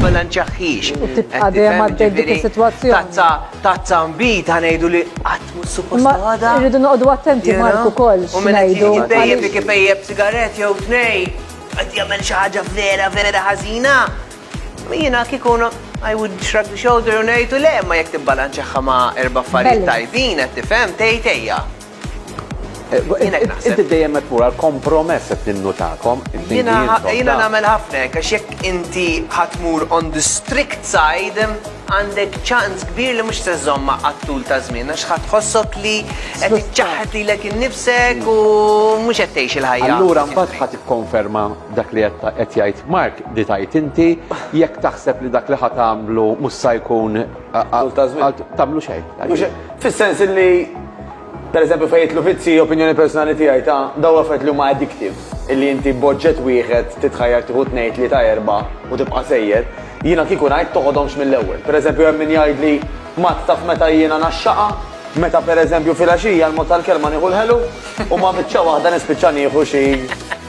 bilanċaħħix. U tibqa' dejjem għaddej dik is-sitwazzjoni. Tazza tazza mbit ħanejdu li qatt mhux suppost għada. Irridu noqogħdu attenti Marku koll. U minn ngħidu. Bejjeb li kipejjeb sigaret jew tnej, qed jagħmel xi ħaġa vera vera ħażina. Jiena kieku I would shrug the shoulder u ngħidu le ma jekk tibbalanċaħħa ma' erba' affarijiet tajbin qed tifhem tgħid ejja. Inti dejjem qed mura l-kompromess qed ninnutakom. Jiena nagħmel ħafna hekk għax jekk inti ħatmur on the strict side għandek ċans kbir li mhux se żommha għat-tul ta' żmien għax ħadd tħossok li qed iċċaħħad lilek innifsek u mhux qed tgħix il-ħajja. Allura mbagħad ħadd ikkonferma dak li qed jgħid Mark li tgħid inti jekk taħseb li dak li ħa tagħmlu mhux se jkun tagħmlu xejn. Fis-sens li Per eżempju fejn jidħlu vizzi, opinjoni personali tiegħi ta' dawn l-affarijiet li huma addictive, illi inti b'oġġett wieħed titħajjar tieħu tnejn, tlieta, erbgħa u tibqa' sejjer, jiena kieku ngħid toħodhomx mill-ewwel. Per eżempju hemm min jgħidli, Mat, taf meta jiena ngħaxxaqha? Meta per eżempju filgħaxija l-mod tal-kelma nieħu l-ħelu u ma' biċċa waħda nispiċċa nieħu xi